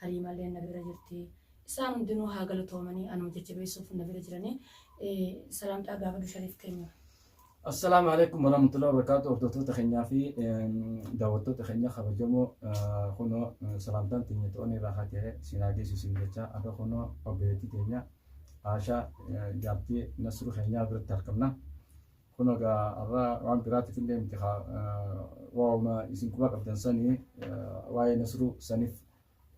Haliimalleen na bira jirti. Isaan hundinuu haa galatoomanii anuma jajjabeessuuf na bira jiranii. Salaamtaa gaafadhu Shariif keenya. Assalaamu alaikum warahmatullahi wabarakatuh hordoftoota keenyaa fi daawwattoota keenya kabajamoo kunoo salaamtaan teenya to'anii irraa haa ta'e siinaa geessu siin jecha akka kunoo obboleettii teenya Aashaa jaartii Nasruu keenyaa biratti argamna. Kun egaa har'a waan biraatiif illee miti haa waa'uma isin quba qabdan sanii waa'ee Nasruu saniif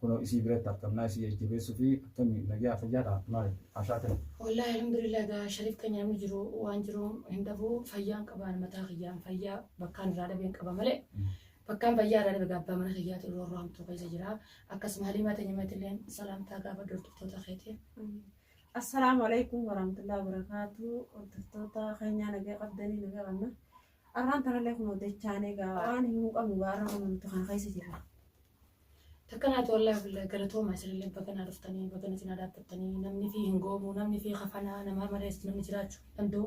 kunoo isii biratti argamnaa isii jajjabeessuu fi akkamii nagyaa fayyaadha maali haashaa ta'e. Wallaahi alhamdulillah egaa Shariif keenya namni jiru waan jiru hin dhabu fayyaan qabaan mataa kiyyaan fayyaa bakkaan irraa dhabeen qaba malee bakkaan fayyaa irraa dhabe gaabbaa mana kiyyaatu irra irraa hamtuu keessa jira akkasuma haliimaa ta'e nyamattillee salaamtaa gaafa hordoftoota keetiif Assalaamu alaikum warahmatullahi wabarakatuh hordoftoota keenyaa nagaa qabdanii nagaa qabna arraan tanallee kun odeechaanee gaa waan himuu qabnu gaa arra kun nuti kana keessa jirra Takkanaati wallahi billahi galatooma isinillee baga naa dhuftanii baga natti naa dhaabbattanii namni fi hin goomu namni fi kafanaa namaa malees namni jiraachuu hin danda'u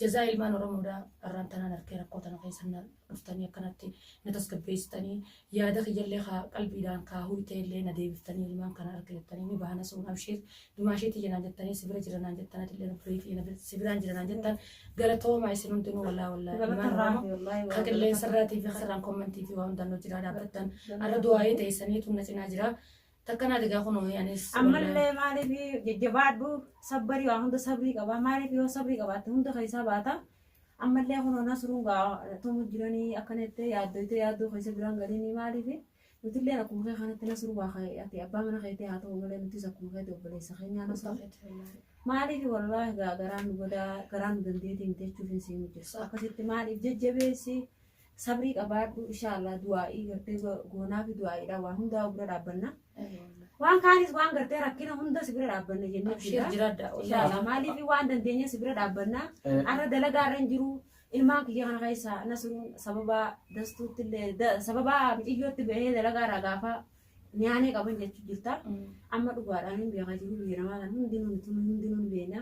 jazaa ilmaan oromoodha arraan tanaan harkee rakkoo tana keessa na- dhuftanii akkanatti na tasgabbeessitanii yaada kiyyallee kaa qalbiidhaan kaa huyteellee na deebiftanii ilmaan kana arga jettanii ni bahana sun abshiir dumaashee tiyya naan jettanii si bira jira naan jettan atillee nu birii tiyya na bir- si biraan jira naan jettan galatoomaa isin hundinuu wallaa wallaa ilmaan Galata oromoo Rabbi, wallaahi, ka wallaahi. qilleensa irraatii fi karraan kommantii fi waa hundaan nu jiraa dhaabbattan arra du'aa'ee teessanii tun na cinaa jira takka naa degaa kunoo anis wallaahi. ammallee maaliif jajjabaadhu sabbarii waa hunda sabrii qaba maaliif yoo sabrii qabaatte hunda keessaa baata Ammallee kunoo Nasruun gaa tumuu jiranii akkana jettee yaaddoytee yaaddoo keessa biraan galini maaliif nutilleen akkuma kee kanatti Nasruu waa kee ati abbaa mana keetii haa ta'u malee nutis akkuma keetii obboleessa keenyaa Nasruu maaliif wallaahi gaa garaan nu godaa garaan nu dandeetii miti jechuuf hin siin jirtu akkasitti maaliif jajjabeessi Sabrii qabaadhu inshaa Allah du'aa'ii gartee go- goonaafi du'aa'iidha waan hundaa bira dhaabbanna. Waan kaanis waan gartee rakkina hunda si bira dhaabbanna jennee Abshiir jira. jiraadha. Inshaa Allah maaliif waan dandeenye si bira dhaabbanna. Arra dalagaa irra hin jiru. Ilmaan kiyya kana keessaa nasuun sababa dastuutti illee da- sababa mixiyyootti bahee dalagaa irraa gaafa nyaanee qaban jechuu jirta. Amma dhugaadhaan hin beekaa jiru biyya namaa kan hundinuu mituu hundinuu hin beekna.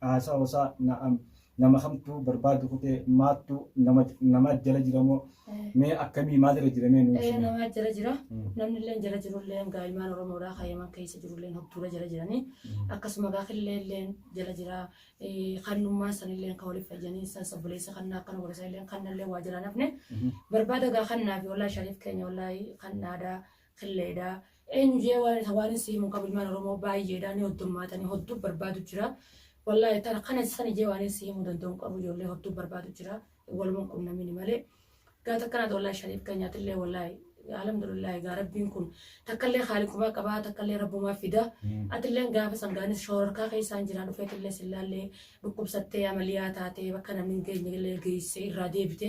Haasawa isaa na'am nama kamtu barbaadu kute maattu nama nama jala jira moo mee akkamii maal irra jira mee nu Eh, ibsina. namaa jala jira Mm. namni illee jala jiru illee gaa'imaan oromoodhaa kaayaman keessa jiru illee hobtuura jala jiranii akkasuma gaakillee illee jala jira Eh, kannummaan san illee kan waliif fayyanii san sabboleessa kannaa akkana godhasa illee kannallee waa jala nafne Mhm. barbaada gaa kannaa fi wallaahi shariif keenya wallaahi kan aadaa kille dha. Eenyu jee waare ta waanin si himu qabu ilmaan Oromoo baayyee dha ni hoddummaata ni hodduu barbaadu jira. Wallaahi tana kana sani jee waanin si himu danda'u hin qabu ijoollee hodduu barbaadu jira. Waluman qunnamini malee. Gaa takkanaati wallaahi shariif keenyaa tillee wallaahi alhamdulillah gaa rabbiin kun takkallee haaliqumaa qabaa takkallee rabbumaa fida atilleen gaafa sangaanis shoororkaa keessaan jira dhufeetillee sillaallee dhukkubsattee amaliyaa taatee bakka namni hin geenyellee geessee irraa deebite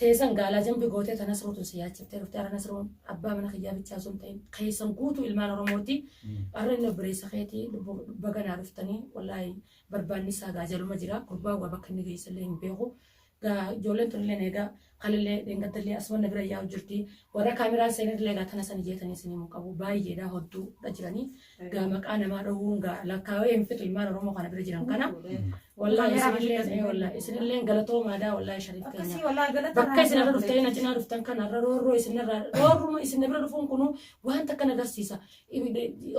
Teesan gaalaa jambi gootee ta Nasruu tun si yaachiftee dhufte ara Nasruun abbaa mana kiyyaa bichaa osoo hin ta'in keessan guutuu ilmaan Oromooti arra inni obboleessa keeti lubbu baga naa dhuftanii wallaahi barbaanni isaa gaa jaluma jira gurbaa waa bakka inni geessa illee hin beeku gaa ijoolleen tun illee eegaa kalillee dheengadda illee asuma na bira yaa'u jirti warra kaameraan seenan illee gaa tana san ijeetanii isin himuu qabu baay'eedha hodduudha jiranii Egaa maqaa namaa dhowwuun ga'a lakkaawee hin fixu ilmaan Oromoo kana bira jiran kana. Wallaahi isinillee mee wallaahi isinillee galatoomaa daa wallaahi shariif keenya. Akkasii walaa galata Bakka irraa isin irra argatu. dhuftanii na cinaa dhuftan kana irra roorroo isin irra roorruma isin bira dhufuun kunu waan takka na agarsiisa.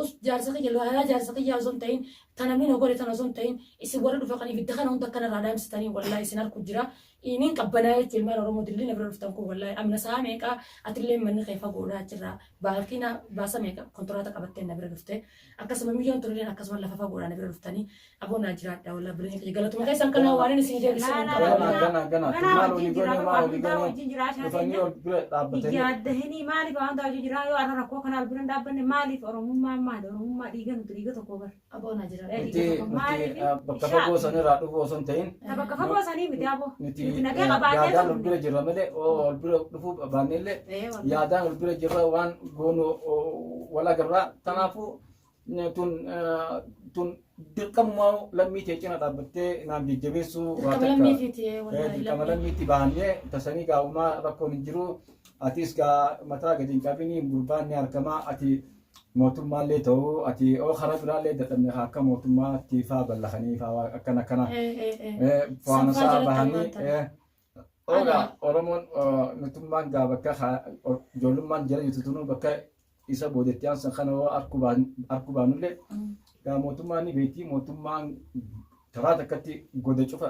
Us jaarsa kiyya laalaa jaarsa kiyyaa osoo hin ta'in tan namni na godhe tan osoo hin ta'in isin warra dhufa kan ibidda kana hunda akkana irraa dhaamsitanii wallaahi isin harku jira. Dhiiniin qabbanaa'ee jetti ilmaan Oromoo dilli na bira dhuftan kun wallaahi amna sa'a meeqaa atillee manni kee fagoodhaa achirraa baalkii na baasa meeqa kontiraata qabattee na bira dhufte akkasuma miliyoon turilleen akkasuma lafa fagoodhaa na bira dhuftanii aboo naa jiraadha wallaahi bilinii kiyya galatuma keessan kanaa waan inni isin deebisu hin Laa, laa, qabu. laa. Gana, gana, gana. Ganaa Maal wajjin olii jira, gone, maal olii hundaa gone. wajjin jira, ashaa Dhufanii keenya. ol bira dhaabbatanii. Biyya adda hinii maaliif waan taa'u jiraa yoo arra rakkoo kana albira hin dhaabbanne maaliif oromummaan maali oromummaa dhiiga nuti dhiiga tokko bara. Aboo na jira. Nuti Reedii tokko nuti maaliif? eh, bakka fagoo sanirraa dhufuu osoo hin ta'in Ta bakka fagoo sanii miti aboo. nuti Nuti eh, nagee qabaannee yaadaan ol bira jirra malee oo ol bira dhufuu baannee illee Ee wal. yaadaan ol bira jirra waan goonu oo, wal agarraa kanaafuu eh, tun eh, tun dirqamuma lammii tee cina dhaabbattee naan jajjabeessuu waa Dirqama takka. lammii fi tiyee Eh, wallaahi dirqama lammii. lammiitti baannee tasanii gaa'umaa rakkoon hin jiru atis gaa mataa gadi hin qabini gurbaan ni argama ati mootummaallee ta'u ati oo karaa biraallee dadhabne haa akka mootummaa tiifaa ballakanii faa waa akkana akkana Eh, eh, eh. eh, Sanfaa fo'aansaa jalatti bahanii ammaan tana. eh, ogaa Ana. oromoon eh, nutummaan gaa bakka haa- o- ijoollummaan jala jirtu tunuu bakka isa boodetti aansan kana hoo arkuu baan- arkuu baanullee Mm. gaa mootummaan ni beekti mootummaan karaa takkatti goda cufa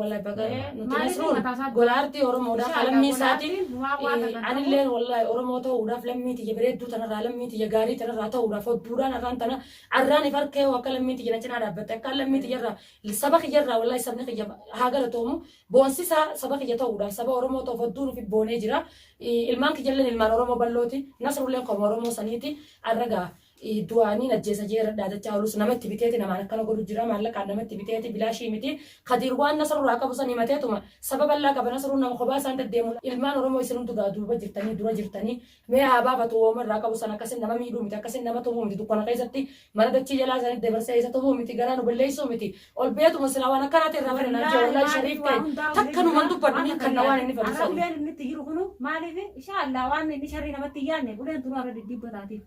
Wallahi baga nuti Maaliif nasruun mataa isaa- gola artii Oromoodhaaf Inshallah, lammii gola isaatiin artiin numaa waan eh, argatan anilleen wallahi Oromoo ta'uudhaaf lammii tiyya bareedduu tanarraa lammii tiyya gaarii tanarraa ta'uudhaaf hodduudhaan arraan tana arraan if harkee hoo akka lammii tiyya na cinaa dhaabbatte akka lammii tiyyarraa saba kiyyarraa wallahi sabni kiyya haa galatoomu boonsisaa saba kiyya ta'uudhaaf saba Oromoo ta'uuf hodduu nuuf boonee jira Eh, ilmaan kiyyalleen ilmaan Oromoo ballooti nasrulleen qomoo Oromoo saniiti arra ga'a du'aaniin ajjeesa jee irra dhaadachaa olus nama itti biteeti namaan akkana godhu jira maallaqaan nama itti biteeti bilaashii miti kadiir waan nasruu irraa qabu san himateetuma saba bal'aa qaba nasruun nama kophaa isaan daddeemu ilmaan oromoo isin hundu gaa duuba jirtanii dura jirtanii mee haa baafatu wooma irraa qabu san akkasin nama miidhuu miti akkasin nama tumuu miti dukkana keessatti mana dachii jalaa sanatti dabarsee isa tumuu miti garaa nu balleessuu miti ol beetuma silaa waan akkanaati irraa bara naan jee wallaahi shariif ta'e takka numan dubbadhu ni kanna waan inni fadhisan Arableen inni itti jiru kunu maaliif insha Allah waan inni sharrii namatti hin yaadne buleen duruu irra diddiibbataatiif.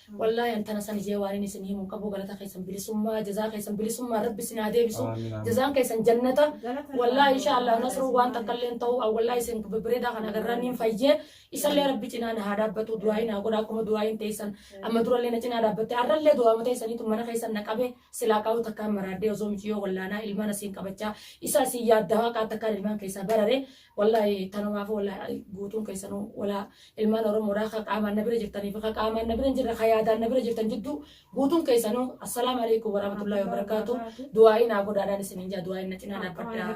Wallahi an tana sani jee waanin isin himu hin qabu galata keessan bilisummaa jazaa keessan bilisummaa rabbi isin haa deebisu Amiin, amiin. jazaan keessan jannata Galata wallahi irraa insha Allah galata nasruu waan irraa. takkallee hin ta'u an wallahi isin bibbireedaa kana agarraan niin fayyee isallee rabbi cinaa na haa dhaabbatu du'aayi naa godha akkuma du'aayiin teessan amma durallee na cinaa dhaabbatte har'allee du'aama teessaniitu mana keessan na qabe silaa qabu takkaan maraaddee osoo miciyoo wallaanaa ilmaan asiin qabachaa isa asiin yaaddaa waaqaa takkaan ilmaan keessaa barare Wallaahi tanumaafuu wallaahi guutuun keessanuu walaa ilmaan Oromoodhaa ka qaamaan na bira jirtanii fi ka qaamaan na bira hin jirre ka yaadaan na bira jirtan jidduu guutuun keessanuu assalaamu alaikum warahmatullahi wabarakaatu du'aa'ii naa godhaadhaan isiniin jaa du'aa'iin na cinaa dhaabbadhaa.